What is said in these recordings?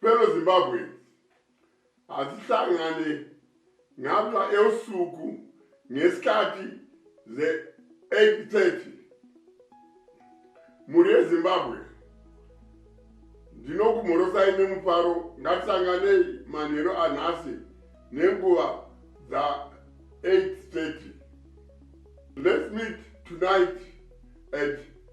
Fellow Zimbabweans, hatihlangane ngapha eusuku ngesikhathi ze 8:30 mhuri yezimbabwe ndinokumhorosai nemufaro ngatisanganei manheru anhasi nenguva dza 8:30 let's meet tonight at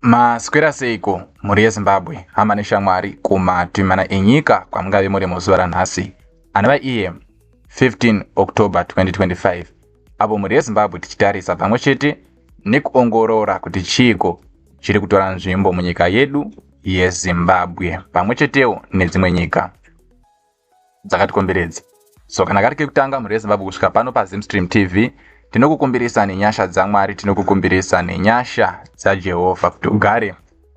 maswera seiko mhuri yezimbabwe hama neshamwari kumatimana enyika kwamungave muri muzuva ranhasi anova iye 15 october 2025 apo mhuri yezimbabwe tichitarisa pamwe chete nekuongorora kuti chiiko chiri kutora nzvimbo munyika yedu yezimbabwe pamwe chetewo nedzimwe nyika dzakatikomberedza so kana kari kekutanga mhuri yezimbabwe kusvika pano pazimstream tv tinokukumbirisa nenyasha dzamwari tinokukumbirisa nenyasha dzajehovha kuti ugare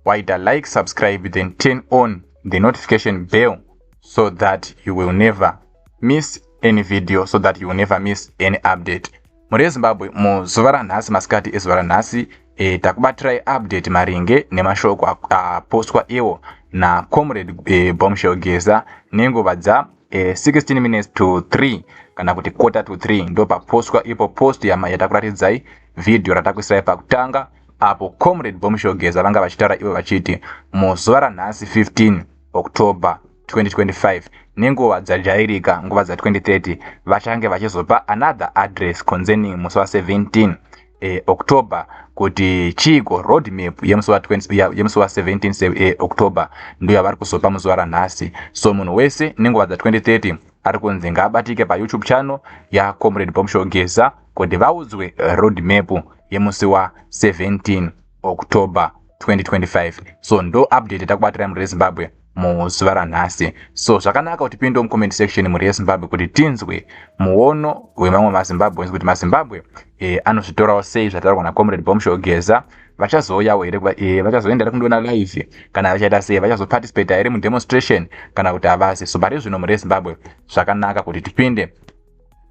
waita like subscribe then turn on the notification bell so that you will never miss any video so that you will never miss any update Mhuri yeZimbabwe, muzuva ranhasi masikati ezuva ranhasi e, takubatirai update maringe nemashoko apostwa iwo nacomrade e, Bombshell Geza nenguva dza e, 16 minutes to 3 kana kuti quarter to 3 ndo papostwa ipo post yatakuratidzai vhidhiyo ratakuisirai pakutanga apo comrade Bombshell Geza vanga vachitaura ivo vachiti muzuva ranhasi 15 October 2025 nenguva dzajairika nguva dza 2030 vachange vachizopa another address concerning musi wa 17 eh, october kuti chiiko road map yemusi wa 17 eh, october ndiyo yavari kuzopa muzuva ranhasi so munhu wese nenguva dza 2030 ari kunzi ngaabatike payoutube channel yacomrade bomshogeza kuti vaudzwe road map yemusi wa 17 october 2025 so ndo update takubatira mhuri yezimbabwe muzuva ranhasi so zvakanaka kuti pinde mucomment section mhuri yezimbabwe kuti tinzwe muono wemamwe mazimbabweans kuti mazimbabwe e, anozvitorawo sei zvataurwa nacomrade bomsho geza vachazouyawo here e, vachazoenda here kundiona live kana vachaita sei vachazoparticipate here mudemonstration kana kuti havasi so pari zvino mhuri yezimbabwe zvakanaka kuti tipinde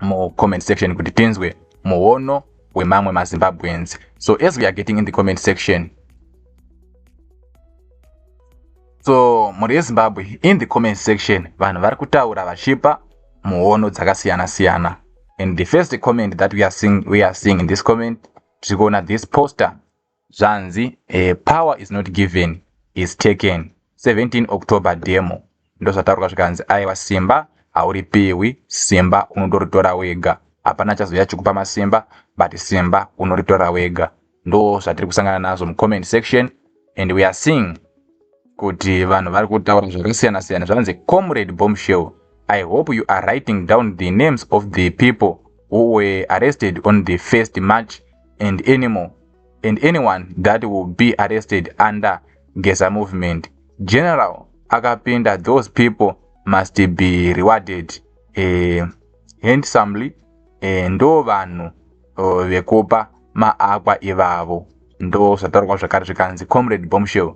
mucomment section kuti tinzwe muono wemamwe mazimbabweans so as we are getting in the comment section so mhuri yezimbabwe in the comment section vanhu vari kutaura vachipa muono dzakasiyana siyana and the first comment that we are seeing, we are seeing in this comment tiri kuona this poster zvanzi eh, power is not given is taken 17 october demo ndozvataurwa zvikanzi aiwa simba hauripiwi simba unondoritora wega hapana chazouya chikupa masimba but simba unoritora wega ndo zvatiri kusangana nazvo mucomment section and we are seeing kuti vanhu vari kutaura zvakasiyana siyana zvanzi comrade bombshell i hope you are writing down the names of the people who were arrested on the first march and anymore and anyone that will be arrested under gesa movement general akapinda those people must be rewarded uh, handsomely uh, ndo vanhu uh, vekupa maakwa ivavo ndozvataurwa zvakare zvikanzi comrade bombshell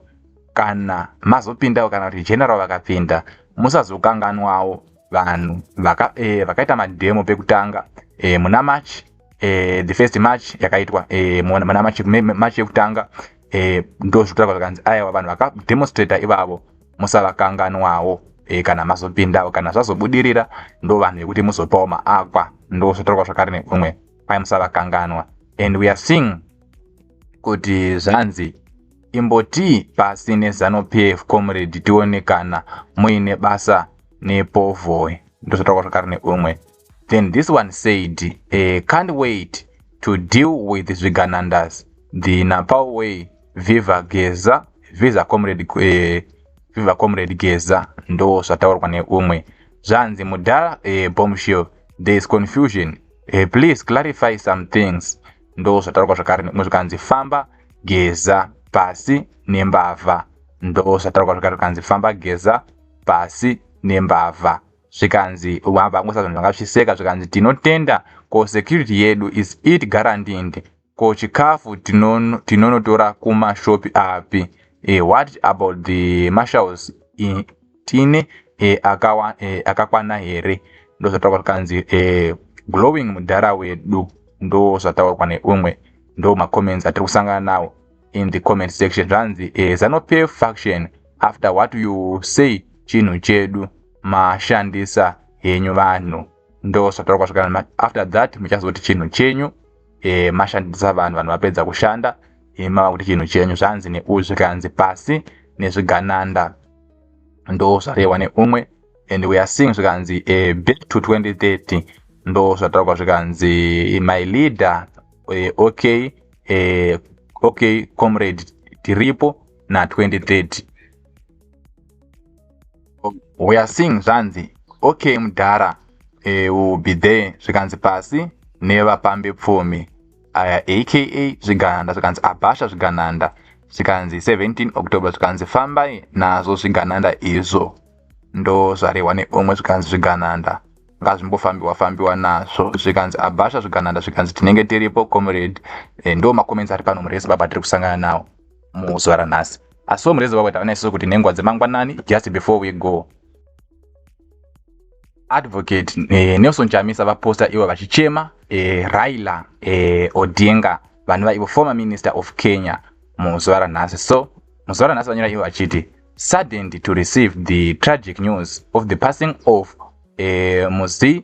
kana mazopindawo kana kuti general vakapinda musazokanganwawo vanhu vaka, eh, vakaita mademo pekutanga eh, muna march eh, the first march yakaitwa eh, muna march, march yekutanga eh, ndozvitaurwa zvakanzi aiwa vanhu vakademonstrata ivavo musavakanganwawo e, kana mazopindawo kana zvazobudirira ndo vanhu vekuti muzopawo maakwa ndozvotorwa zvakare nekumwe kwai musavakanganwa and we are seeing kuti zvanzi imbotii pasi nezano pf comrade tione kana muine basa nepovoi ndozvotorwa zvakare nekumwe then this one said uh, can't wait to deal with zviganandas the napao way viva geza visa comrade uh, viva comrade geza ndo zvataurwa neumwe zvanzi mudhara uh, eh, bombshell there is confusion uh, please clarify some things ndo zvataurwa zvakare neumwe zvikanzi famba geza pasi nembavha ndo zvataurwa zvakare zvikanzi famba geza pasi nembavha zvikanzi vabva kungoisa zvinhu zvanga zvichseka zvikanzi tinotenda ko security yedu is it garantint ko chikafu tinonotora tino kumashopi api e, what about the marshals e, tine e, akawa, e, akakwana here ndozvataurwa zvikanzi e, glowing mudhara wedu ndozvataurwa neumwe ndo macomments atiri kusangana nawo in the comment section zvanzi e, zanopay faction after what you say chinhu chedu mashandisa henyu vanhu ndosvatara kwasvika after that muchazoti chinhu chenyu e, mashandisa vanhu vanhu vapedza kushanda e, mava kuti chinhu chenyu zvanzi neuzvi zvikanzi pasi nezvigananda ndo zvarehwa neumwe and we are seeing zvikanzi e, back to 2030 ndo zvataurwa zvikanzi my leader e, okay e, okay comrade tiripo na 2030 we are seeing zvanzi okay mudhara eh, will be there zvikanzi pasi nevapambi pfumi aya aka zvigananda zvikanzi abhasha zvigananda zvikanzi 17 october zvikanzi fambai nazvo zvigananda izvo ndo zvarehwa neumwe zvikanzi zvigananda ngazvimbofambiwa fambiwa nazvo zvikanzi abhasha zvigananda zvikanzi tinenge tiripo comrade eh, ndo macomments ari pano murese baba tiri kusangana nawo muzuva ranhasi Asi wo murezi wavo taona isusu kuti nenguva dzemangwanani just before we go. Advocate eh, Nelson Chamisa vaposta ivo vachichema eh, Raila eh, Odinga vanova ivo former minister of Kenya muzuva ranhasi. So muzuva ranhasi vanyora ivo vachiti saddened to receive the tragic news of the passing of eh, Muzi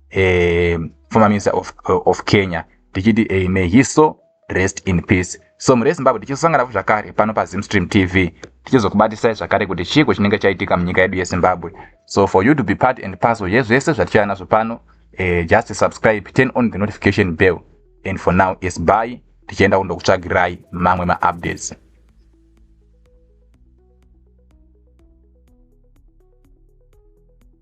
eh, former minister of, uh, of kenya tichiti eh, may he so rest in peace so mhuri yezimbabwe tichizosanganapo zvakare pano pazimstream tv tichizokubatisai zvakare kuti chiiko chinenge chaitika munyika yedu yezimbabwe so for you to be part and parcel yezvese zvatichaya nazvo pano eh, just subscribe turn on the notification bell and for now is by tichienda kundokutsvagirai mamwe maupdates